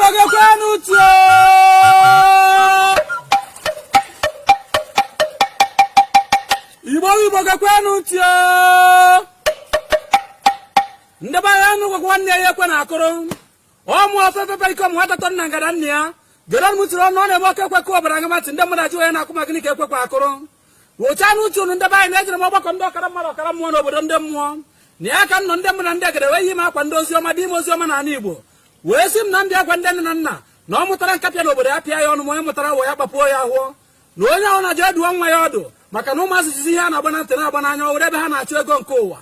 igbo gekwanụ ntị o igbo igbo gekwanụ ntị o ndị be anyị nụkwanụ ya ekwe na-akụrụ ọmụ ọtọ tata ike ọmụ nwata nọ na ngada nna ya gere m tiri ọnụ ọ na-eme oke ekwekọ ọbara ngamatị ndị mmadụ ajụ onye na-akụ maka gịnị ka ekwe kwa akụrụ wụchaanụ ntị unu ndị be anyị na ejere m ọgbakọ ndị ọkara mmadụ ọkara mmụọ n'obodo ndị mmụọ na ya ka m nọ ndị mbụ na ndị egede wee yi m akwa ndị ozi ọma dị ime ozi ọma n'ala igbo wee si m na ndị akwa ndị nne na nna na ọ mụtara nkapị n'obodo ya pịa ya ọnụ ma onye mụtara awọ ya gbapuo ya ahọ na onye ọwụna je dụọ nwa ya ọdụ maka na ụmụazị jizi ihe a na-agba na ntị na-agba n'anya ọ wụrụ ebe ha na-achụ ego nke ụwa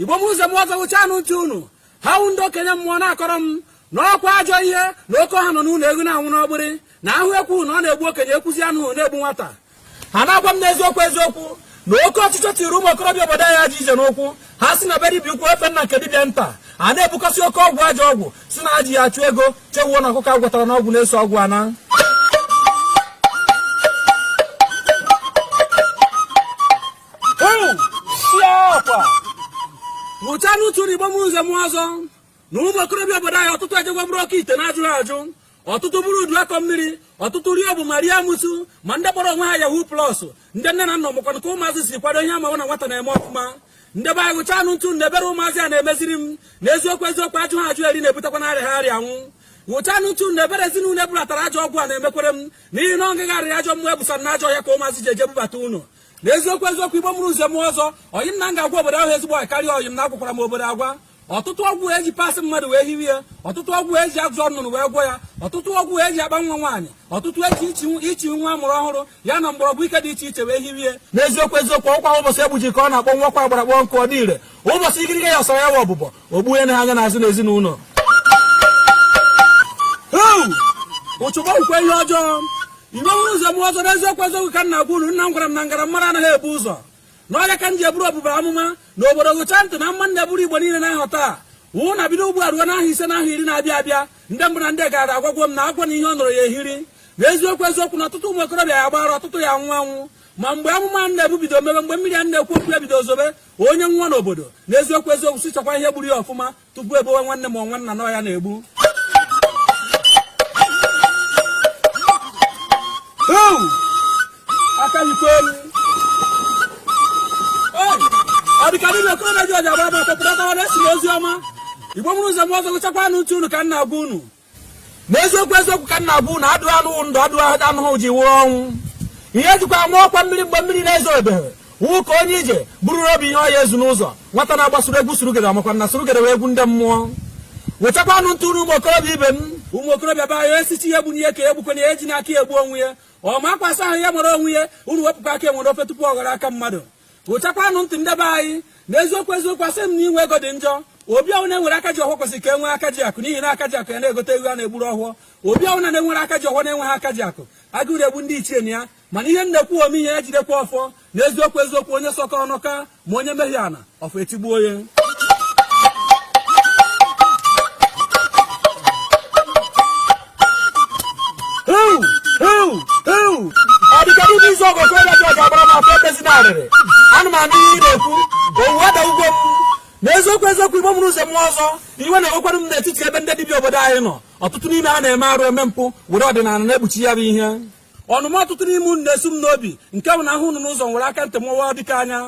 igbo mụrụ nze mụ ọzọ wụchaanụ ntị unu ha wụ ndị okenye mmụọ na-akọrọ m na ọkwa ajọ ihe na oke ọha nọ n'ụlọ eghu na-anwụ n'ọgbịrị na ahụ ekwuna na-egbu okenye ekwuzi anụ na-egbu nwata ha na-agwa m n'eziokwu eziokwu na oke ọchịchọ tiri ụmụ okorobịa obodo anyị ajọ ije n'ụkwụ ha si na be dibịa ukwu efe na nke dibịa nta a na-ebukọsị oke ọgwụ ajọ ọgwụ sị na ha ji ya achụ ego chewuo na ọkụkọ agwọtara n'ọgwụ na-eso ọgwụ ana wụchaanụ ntị unu igbo mụrụ nze mụ ọzọ na ụmụ okorobịa obodo anyị ọtụtụ ejegwo buru oke ite na-ajụghị ajụ ọtụtụ buru udu akọ mmiri ọtụtụ rie bụ ma rie amụsụ ma ndị kpọrọ onwe ha yahoo plus ndị nne na nna mụkwana ka ụmụazị si kwado ihe amawa na nwata na-eme ọfụma ndị be anyị wụchaanụ ntị na ebere ụmụazị a na-emeziri m na eziokwu eziokwu ajụha ajụ eri na-ebutekwanụ arịaha arịa anwụ wụchaanụ ntị na ebere ezinụlọ ebulatara ajọ ọgwụ a na-emekwere m n'ihi na ọngịgharị ajọ mmụọ ebusa na ajọ ọya ka ụmụazị ji eje bubata ụlọ na eziokwu eziokwu igbo mụrụ nze mụ ọzọ oyim na m ga-agwa obodo ahụ ezigbo karịa oyim na agwakwara m obodo agwa ọtụtụ ọgwụ eji parts mmadụ wee hiwe ya ọtụtụ ọgwụ eji agụzọ nnụnụ wee gwọ ya ọtụtụ ọgwụ eji akpa nwa nwaanyị ọtụtụ eji ichi nwa a mụrụ ọhụrụ ya na mgbọrọgwụ ike dị iche iche wee hiwe ya n'eziokwu eziokwu ọkwa ụbọchị egbuji ka ọ na-akpọnwụkwa agbara kpọọ nkụ ọ dị ire ụbọchị ikirike ya ọsara ya wa ọbụbọ ogbunye na aga n'azụ n'ezinụlọ uchu gbakwa ihe ọjọọ igbo mụrụ nze mụ ọzọ n'eziokwu eziokwu ka m na-agwa unu nna m gwara m na m gara mara anaghị ebu ụzọ na ọ ya ka m ji eburu ọbụba amụma na obodo wụchaa ntị na amụma m na-eburu igbo niile n'ọha taa wụ na bido ugbu a ruo n'ahọ ise na ahọ iri na-abịa abịa ndị mbụ na ndị egede agwagwo m na agwa na ihe ọ nọrọ ya ehiri na eziokwu eziokwu na ọtụtụ ụmụ okorobịa ya-agba ara ọtụtụ ya-anwụ anwụ ma mgbe amụma m na-ebu bido mebe mgbe mmiri a na-ekwu okwu ya bido zobe onye nwụọ n'obodo n'eziokwu eziokwu sị chọkwa ihe gburu ya ọfụma tupu ebowe nwanne ma nwanna na ọ ya na-egbu aka yikwa elu ọ dịka ndị na-ekoro na ji ọja bụ abụ ọtọpụta na-ezi ozi ọma igbo mụrụ nze mụ ọzọ wụchakwanụ ntị unu ka m na-agwa unu n'eziokwu eziokwu ka m na-agwa unu adụ anụ ndụ adụ anụhụ ji wụrụ ọnwụ ihe e jikwa ama ọkwa mmiri mgbe mmiri na-ezobeghị wụ ka onye ije buru obi ihe ọ ya-ezu n'ụzọ nwata na-agbasoro egwu surugede makwa na surugede wụ egwu ndị mmụọ gechakwanụ ntị nụrụ ụmụ okorobịa ibe m ụmụ okorobịa be anyị esichi ihe egbu n'ihe ka egbukwana ihe ji n'aka egbu onwe ya ọ ma akwa asa ahụ ya nwere onwe ya unu wepụkwa aka enwe n'ofe tupu ọ ghọrọ aka mmadụ gechakwanụ ntị ndebe anyị na eziokwu eziokwu asị m na inwe ego dị njọ obi ọwụna e nwere aka ji ọfọ kwesịrị ka e nwee aka ji akụ n'ihi na aka ji akụ ya na-egote eghu a na-egburu ọfọ obi ọwụna e nwere aka ji ọfọ na-enweghị aka ji akụ agụụ na-egbu ndị ichie na ya mana ihe m na-ekwu ome ihe ya jidekwa ọfọ na eziokwu eziokwu onye sọkọ ọnụ ka ma onye mehie ana ọfọ etigbuo ya ọdịkadị ndị isi ọgọ okoro ji ọja agbara m afọ ebezina arịrị ana m anụ ihe ị na-ekwu owuwe ada ugwo m na eziokwu eziokwu igbo mụrụ nze mụọ ọzọ iwe na-ewekwara m n'etiti ebe ndị dibịa obodo anyị nọ ọtụtụ n'ime ha na-eme arụ eme mpụ were ọdịnala na-ekpuchi ya bụ ihe ọnụma ọtụtụ n'ime unu na-esu m n'obi nke bụ na ahụ unu n'ụzọ nwere aka ntị mụwa dịka anya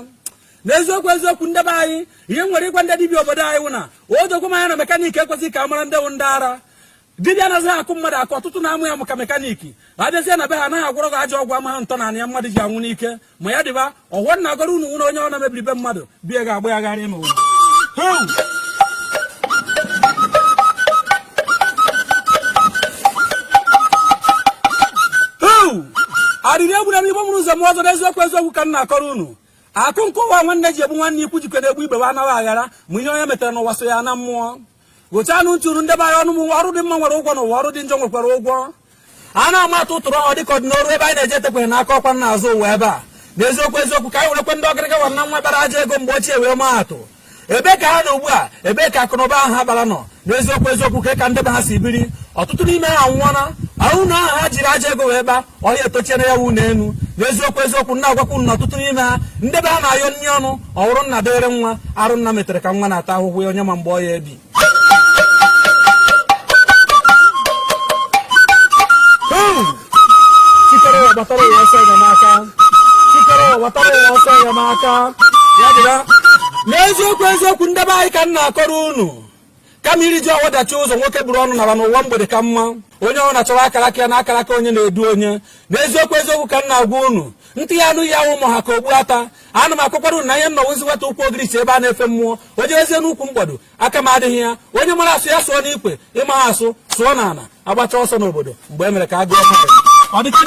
n'eziokwu eziokwu ndebe anyị ihe m nwere ịgwa ndị dibịa obodo anyị wụ na o dokwe m anya na mekaniki ekwezighị ka a mara ndị wụ ndị ara dibịa anaghị akụ mmadụ akụ ọtụtụ na-amụ ya maka mekaniki abịazie na be ha anaghị agwọrọ gị ajọ ọgwụ ama ha ntọ na ya mmadụ ji anwụ n'ike ma ya dịba ọfọ m na-agọrọ unu nwere onye ọwụna mebiri be mmadụ be ya ga-agba ya gharị n'ụwa arịrị egbuona m igbo mụrụ nze mụọ ọzọ n'eziokwu eziokwu ka m na-akọrọ unu akụ nke ụwa nwanne ji egbu nwanne ikwu jikọ na-egbu ibe wa anaghị aghara ma ihe onye metere n'ụwa so ya na mmụọ gechanụ ntị nụrụ ndebe anyị ọnụ m ọrụ dị mma nwere ụgwọ n'ụwa ọrụ dị njọ nwekwara ụgwọ a na-ama atụ ụtụrụ ahụ dịka ọdịnoru ebe anyị na-eje etekweghị n'aka ọkwa n'azụ ụwa ebe a n'eziokwu eziokwu ka anyị werekwe ndị ọgịrịga gwara na nwa bara aja ego mgbe ochie wee maa atụ ebe ka ha nọ ugbu a ebe ka akụnụba ahụ ha bara nọ n'eziokwu eziokwu ka ndebe ha si biri ọtụtụ n'ime ha anwụọna ụnọ ahụ ha jiri aja ego wee kpa ọhịa etochiere ya wụ n'elu na eziokwu eziokwu m na-agwakwa unu na ọtụtụ n'ime ha ndị be ha na-ayọ nri ọnụ ọhụrụ nna dịrị nwa arụ nna metere ka nwa na-ata ahụhụ ya onye ma mgbe ọ ya-ebi chi kere ụwa gbatara ụwa ọsọ enyemaka chi kere ụwa gbatara ụwa ọsọ enyemaka ya dịra n'eziokwu eziokwu ndebe anyị ka m na-akọrọ unu kama iriju afọ dachie ụzọ nwoke buru ọnụ nara na ụwa mgbede ka mma onye ọwụna chọwa akara aka ya na akara aka onye na-edu onye n'eziokwu eziokwu ka m na-agwa unu ntị ya-anụ ihe awụ ma ọ ha ka okpu ata ana m akọkwara unu na ihe nna ozi nweta ukwu ogirisi ebe a na-efe mmụọ onye ezie n'ukwu mgbado aka m adịghị ya onye mara asụ ya sụọ n'ikwe ị maha asụ sụọ n'ana agbacha ọsọ n'obodo mgbe e mere ka a gụọ mmadụ ọ dịka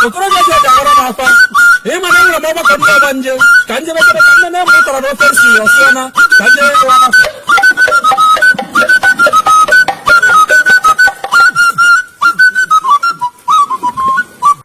okorobịa ji eji agbara m akwa ịma na enwere m ọgbakọ ndị ọgbanje ka nje mekere ka nne na-eme ụtara na ofe nsi ọsịa na ka nje ya ewe ọgbakọ